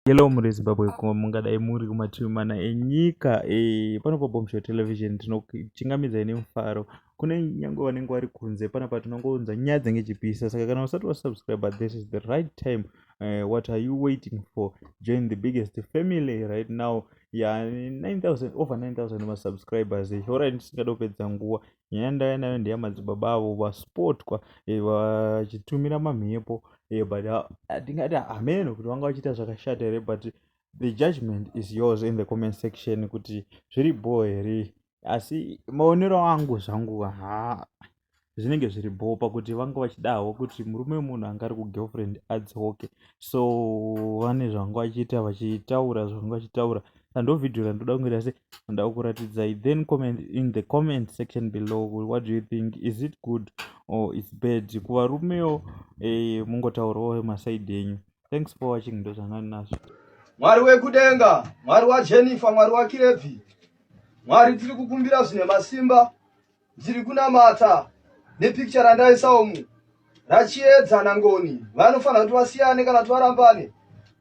Hello muri Zimbabwe ko mungadai muri kumativi mana enyika e, panopa Bombshell Television tinokuchingamidzai nemufaro kune nyange vanenge vari kunze panapa tinongounza nyaya dzenge chipisa saka kana usati wasubscribe this is the right time uh, what are you waiting for join the biggest family right now ya yeah, 9000 over 9000 masubscribers horai ndisingada kupedza nguva nyaya yandauya nayo ndeyamadzibaba avo vaspotwa eh, vachitumira mamhepo eh, but ah, hatingati hameno kuti vanga vachiita zvakashata here but the judgment is yours in the comment section kuti zviri bho here asi maonero angu zvangu ha zvinenge zviri bho pakuti vanga vachidahwo kuti murume wemunhu anga ari kugirlfriend adzoke so vane zvanga vachiita vachitaura zvanga vachitaura so, and ndo video randoda kunge rase ndakuratidzai then comment in the comment section below what do you think is it good or its bad kuvarumewo eh, mungotaurawo masaidi enyu thanks for watching ndo zvangani nazvo mwari wekudenga mwari wajennifer mwari wakirevhi mwari tiri kukumbira zvine masimba Ndiri kunamata nepicture randaisa umu rachiedza nangoni vanofanira kuti vasiyane kana kuti varambane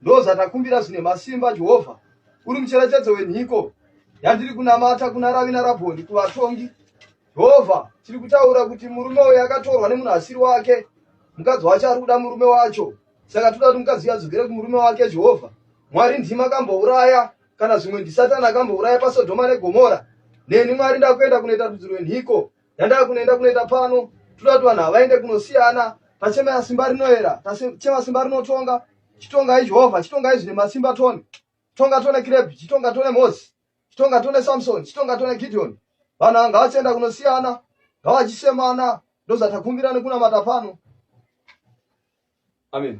ndozvatakumbira zvine masimba jehovha uri mucherechedzo wenhiko yandiri kunamata kuna ravi narabhoni kuvatongi jehovha tiri kutaura kuti murume uyo akatorwa nemunhu asiri wake mukadzi wacho ari kuda murume wacho saka toda kuti mukadzi uyo adzokere kumurume wake jehovha mwari ndima kambouraya kana zvimwe ndisatani akambouraya pasodhoma negomora neni mwari ndakuenda kunoita rudzi rwenhiko yandava kunoenda kunoita pano toda kuti vanhu havaende kunosiyana tachema simba rinoera tachema simba rinotonga chitongai jehovha chitongai zvine masimba tone chitonga tone kirebhi chitonga tone mosi chitonga tone samsoni chitonga tone gideoni vanhu ava ngavachienda kunosiyana ngavachisemana ndozatakumbira nekunamata pano amen